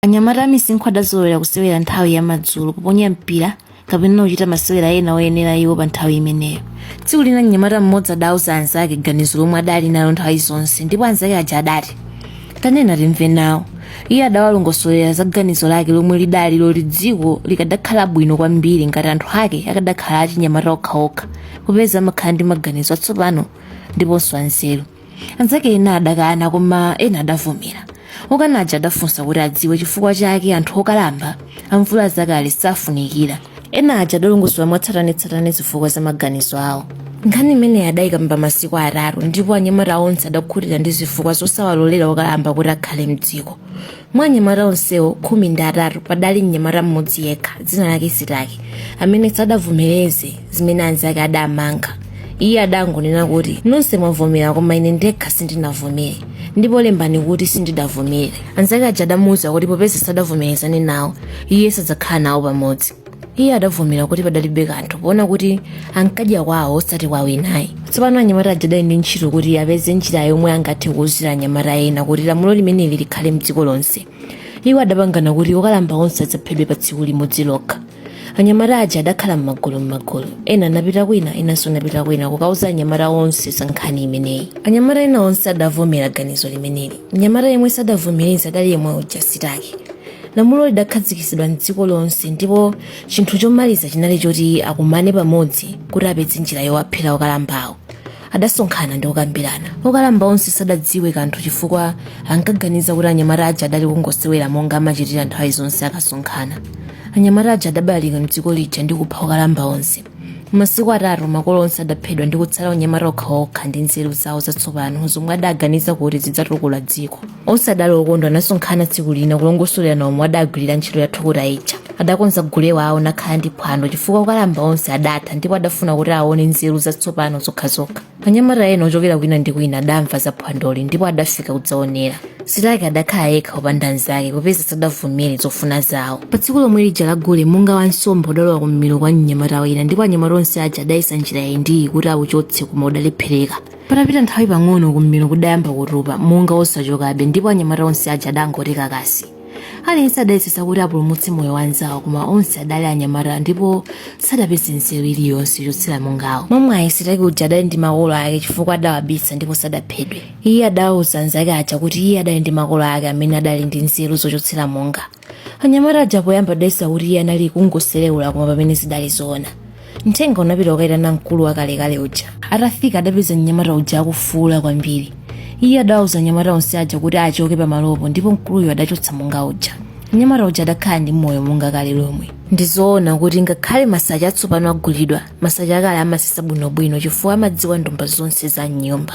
anyamata amisinkhu adazolowera kusewera nthawi ya madzulo kuponya mpira kapena kuchita masewera ena oyenera iwo pa nthawi imeneyo tsiku lina mnyamata mmodzi adauza anzake ganizo lomwe adali nalo nthawi zonse ndipo anzake aja adati tanena timve nawo iye adawalongosolera za ganizo lake lomwe lidali loti dziko likadakhala bwino kwambiri ngati anthu ake akadakhala achinyamata okhaokha popeza amakhala ndi maganizo atsopano ndiponso anzeru anzake ena adakana koma ena adavomera okana aja adafunsa kuti adziwe chifukwa chake anthu okalamba amvula zakale safunikira ena aja adalongosola mwatsatanetsatane zifukwa za maganizo awo nkhani imeneyi adayikamba masiku atatu ndipo anyamata onse adakhutira ndi zifukwa zosawalolera okalamba kuti akhale mdziko mwa anyamata onsewo khumi ndi atatu padali mnyamata mmodzi yekha dzina lake sitaki amene sadavomereze zimene anzake adamanga iye adangonena kuti nonse mwavomera koma ine ndekha sindinavomere ndipo lembani kuti sindidavomere anzake aja adamuwuza kuti popeza sadavomerezane nawo iye sadzakhala nawo pamodzi iye adavomera kuti padalibe kanthu poona kuti ankadya kwawo osati kwa winayo tsopano anyamata aja adali ndi ntchito kuti apeze njira yomwe angathe kuuzira anyamata ena kuti lamulo limeneli likhale mdziko lonse iwo adapangana kuti okalamba onse adzaphedwe pa tsiku limodzi lokha anyamata aja adakhala m'magulu m'magulu ena anapita kwina enanso anapita kwina kukauza anyamata onse za nkhani imeneyi anyamata ena onse adavomera ganizo limeneli mnyamata yemwe sadavomereza adali yemwe uja sitaki lamulo lidakhazikitsidwa mdziko lonse ndipo chinthu chomaliza chinali choti akumane pamodzi kuti apeze njira yowaphera okalambawo adasonkhana ndi kukambirana okalamba onse sadadziwe kanthu chifukwa ankaganiza kuti anyamata aja adali kungosewera monga amachitira nthawi zonse akasonkhana anyamata aja adabalalika mdziko lija ndi kupha okalamba onse masiku atatu makolo onse adaphedwa ndi kutsala anyamata okhaokha ndi nzeru zawo zatsopano zomwe adaganiza kuti zidzatukula dziko onse adali okondwa anasonkhana tsiku lina kulongosolerana momwe adagwirira ntchito yathukuta ija adakonza gule wawo nakhala ndi phwando chifukwa okalamba onse adatha ndipo adafuna kuti aone nzeru zatsopano zokhazokha anyamata ena ochokera kwina ndi kwina adamva za phwandoli ndipo adafika kudzaonera sitaki adakhala yekha opanda mnzake popeza sadavomere zofuna zawo pa tsiku lomwe lija la gule munga wa nsomba udalowa kummiro kwa mnyamata wina ndipo anyamata onse aja adayesa njira iyi ndi iyi kuti auchotse koma udalephereka patapita nthawi pang'ono kummiro kudayamba kutupa munga osachokabe ndipo anyamata onse aja adangoti kakasi aliyense adayesesa kuti apulumutse moyo wa mnzawo koma onse adali anyamata ndipo sadapeze nzeru iliyonse yochotsera mungawo mwamwayi sitaki uja adali ndi makolo ake chifukwa adawabisa ndipo sadaphedwe iye adawauza anzake aja kuti iye adali ndi makolo ake amene adali ndi nzeru zochotsera munga anyamata aja poyamba adayesa kuti iye anali kungosereula koma pamene zidali zoona mthenga unapita kukayitana mkulu wakalekale uja atafika adapeza mnyamata uja akufuula kwambiri iye adawauza anyamata onse aja kuti achoke pamalopo ndipo mkuluyo adachotsa munga uja mnyamata uja adakhala ndi moyo monga kale lomwe ndizoona kuti ngakhale masache atsopano agulidwa masache akale amasesa bwinobwino chifukwa amadziwa ndomba zonse za mnyumba